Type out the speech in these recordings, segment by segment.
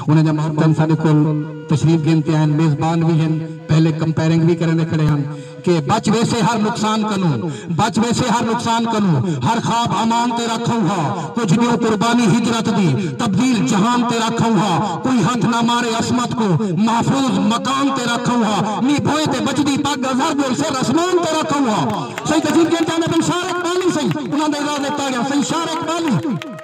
انہاں دیاں محبتاں ساڈے کول تشریف گھن تے آئن، میزبان وی ہن، پہلے کمپیئرنگ وی کریندے کھڑے ہن کہ بچ ویسے ہر نقصان کنوں، بچ ویسے ہر نقصان کنوں، ہر خواب امان تیرا کھئوں ہا، کجھ نیوں قربانی ہجرت دی، تبدیل جہان تیرا کھئوں ہا، کوئی ہتھ نہ مارے عصمت کوں، محفوظ مکان تیرا کھئوں ہا، مینہ بھوئیں تے بچدی پگ اظہر ڈول سر اسمان تیرا کھئوں ہا۔ سئیں تشریف گھن تے آئن اپن شاعر اقبالی سئیں انہاں دے اعزاز اچ تاڑیاں سئیں شاعر اقبالی۔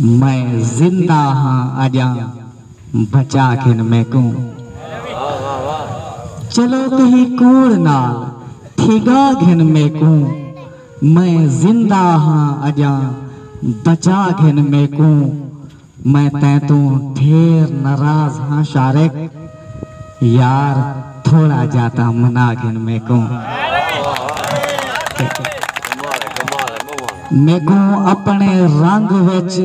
میں زندہ ہاں اجاں بچا گھن میکوں۔ چلو کہیں کوڑ نال تھیگا گھن میکوں۔ میں زندہ ہاں اجاں بچا گھن میکوں۔ میں تیں توں ڈھیر ناراض ہاں شارق یار تھوڑا جا تاں منا گھن میکوں میکوں اپنے رنگ وچ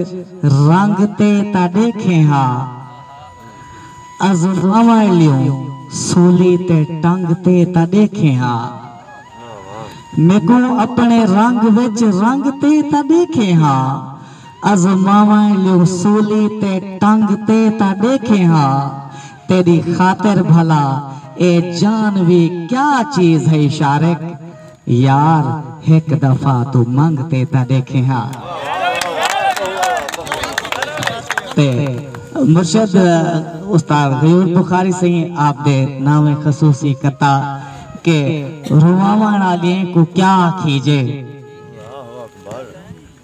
رنگ تے تاں ڈیکھیں ہا عزف اوائلیوں سولی تے ٹنگ تے تاں ڈیکھیں ہا میکوں اپنے رنگ وچ رنگ تے تاں ڈیکھیں ہا۔ آزماواں الیوں سولی تے ٹنگ تے تاں ݙیکھیں ہا تیݙی خاطر بھلا اے جان وی کیا چیز ہئی شارق یار ہک دفعہ توں منگ تے تاں ݙیکھیں ہا تے مرشد استاد غیور بخاری سئیں آپ دے ناویں خصوصی قطعہ کہ رواوݨ آلیئیں کوں کیا آکھیجے۔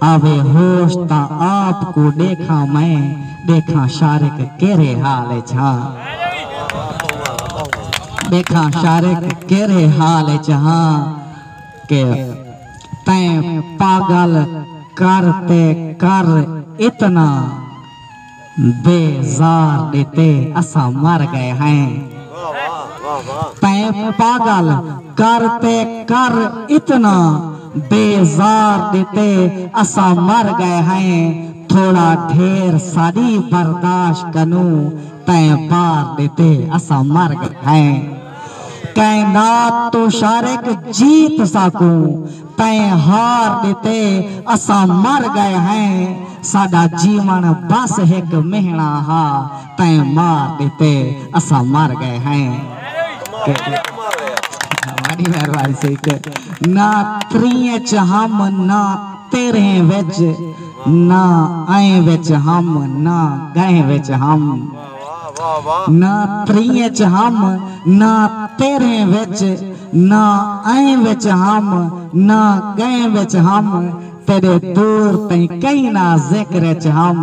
آوے ہوش تاں آپ کوں ݙیکھاں میں ݙیکھاں شارق کیرھے حال اچ ہا ݙیکھاں شارق کیرھے حال اچ ہا کہ تیں پاڳل کر تے کر اتنا دے زار ݙتے اساں مر ڳئے ہیں۔ تیں پاڳل کر تے کر اتنا دے زار ݙتے اساں مر ڳئے ہیں تھوڑا ڈھیر ساݙی برداشت کنوں تیں بار ݙتے اساں مر ڳئے ہیں کائنات توں شارق جیت ساکوں تئیں ہار ݙتے اساں مر ڳئے ہیں ساݙا جیوݨ ٻس ہک مہیݨا ہا تئیں مار ݙتے اساں مر ڳئے ہیں وݙی مہربانی سیت نہ تریں اچ ہم نہ تیرھیں وچ نہ ائیں وچ ہم نہ ڳئیں وچ ہم۔ نہ تریں اچ ہم نہ تیرھیں وچ نہ ائیں وچ ہم نہ گئیں وچ ہم تیڈے دور تئیں کہیں نہ ذکر اچ ہم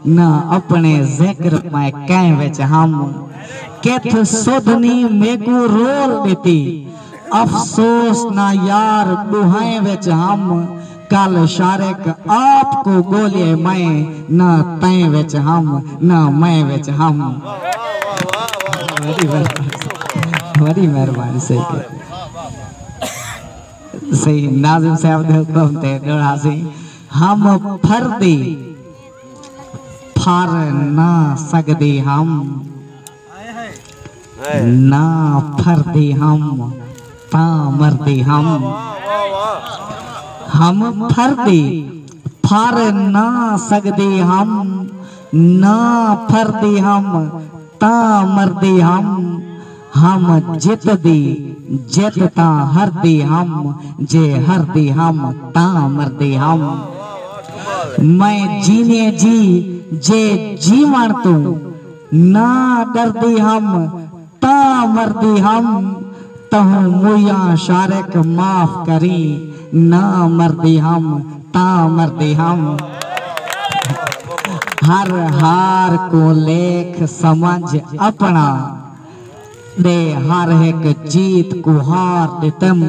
نہ اپنے ذکر میں کئیں وچ ہم کتھ سدھ نی میکوں رول ڈتی افسوس نہ یار ڈوہائیں وچ ہم کل شارق آپ کوں ڳولیے میں نہ تیں وچ ہم نہ میں وچ ہم۔ وڈی مہربانی سیدے سید ناظم صاحب دے حکم تے ڈوڑا سی ہم پھردی پھر نہ سگدی ہم۔ نہ پھردے ہم تاں مردے ہم ہم پھردے پھر نہ سگدے ہم نہ پھردے ہم تاں مردے ہم ہم جت دے جت تاں ہردے ہم جے ہردے ہم تاں مردے ہم میں جیویں جی جے جیوݨ توں نہ ڈردی ہم تاں مردی ہم تہوں مویاں شارق معاف کریں نہ مردی ہم تاں مردی ہم ہر ہار کوں لیکھ سمجھ اپنا ڈے ہر ہک جیت کوں ہار ڈتم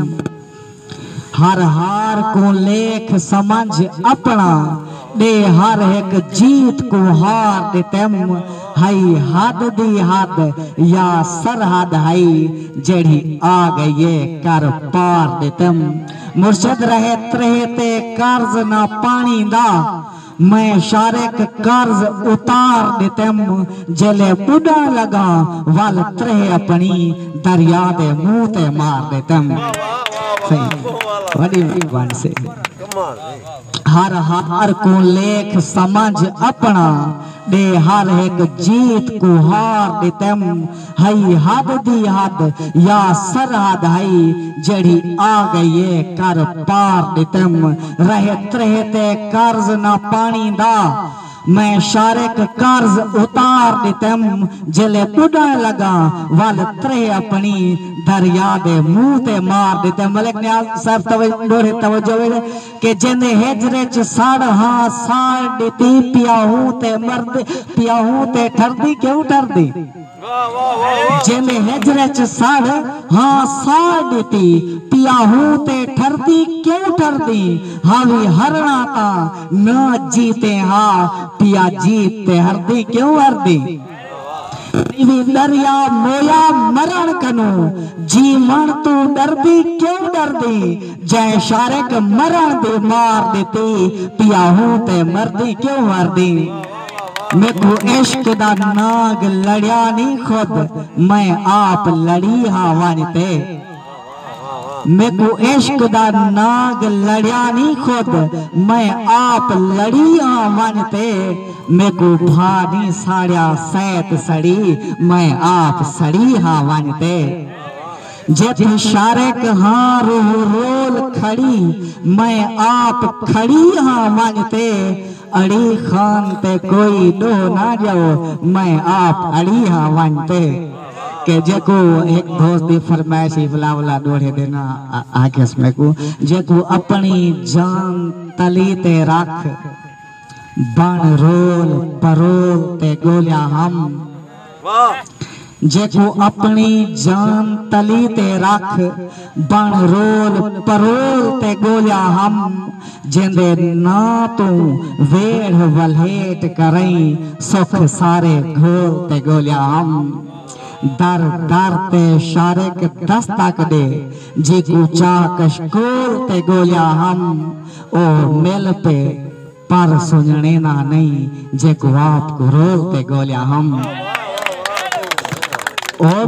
ہر ہار کوں لیکھ سمجھ اپݨا ݙے ہر ہک جیت کوں ہار ݙتم ہئی حد دی حد یا سرحد ہئی جیڑھی آ ڳئی اے کر پار ݙتم مرشد رہے تریہہ تے قرض نہ پاݨی دا میں شارق قرض اتار ݙتم جیلھے ٻݙݨ لڳا ول تریہہ اپݨی دریا دے منہ تے مار ݙتم وݙی مہربانی سے ہر ہار کوں لیکھ سمجھ اپݨا ݙے ہر ہک جیت کوں ہار ݙتم ہئی حد دی حد یا سرحد ہئی جیڑھی آ گئی اے کر پار ݙتم رہے ترہے تے قرض نہ پاݨی دا میں شارق قرض اتار ݙتم جیلے ٻݙݨ لڳاں ول ترہے اپݨی دریا دے منہ تے مار ݙتم ملک نیاز صاحب توجہ ݙوہڑے توجہ ہووے کہ جیندے ہجر اچ سڑ ہا ساڑ ڈتی پیا ہوں تے مرد پیا ہوں تے ٹھردی کیوں ٹھردی جیندے ہجر اچ سڑ ہا ساڑ ڈتی پیا ہوں تے ٹھردی کیوں ٹھردی ہاوی ہرنا تاں نہ جیتے ہا پیا جیت تے ہردی کیوں ہردی۔ نیوی دریا مویا مرݨ کنوں جیوݨ توں ݙردی کیوں ݙردیں جئیں شارق مرݨ دی مار ݙتی پیا ہوں تے مردی کیوں مردیں میکوں عشق دا نانگ لڑیا نی خود میں آپ لڑی ہاں ونڄ تے میکوں عشق دا ناگ لڑیا نی خود میں آپ لڑی آں ونڄ تے میکوں بھا نی ساڑیا سیت سڑی میں آپ سڑی ہاں ونڄ تے جے توں شارق ہاں روح رول کھڑی میں آپ کھڑی ہاں ونڄ تے اڑی خان تے کوئی ݙوہ نہ ڄاؤ میں آپ اڑی ہاں ونڄ تے۔ کہ جیکوں ہک دوست دی فرمائش ہی ولا ولا ڈوہڑے دینا آکھیس میکوں جیکوں اپنڑی جان تلی تے رکھ بن رول پرول تے گولیا ہم جیکوں اپنڑی جان تلی تے رکھ بݨ رول پرول تے ڳولیا ہم جیندے ناں توں ویڑھ ولھیٹ کرئیں سکھ سارے گھول تے ڳولیا ہم در در تے شارق دستک ݙے جیکوں چاہ کشکول تے ڳولیا ہم او مل پئے پر سنڄݨینا نئیں جیکوں آپ کوں رول تے ڳولیا ہم او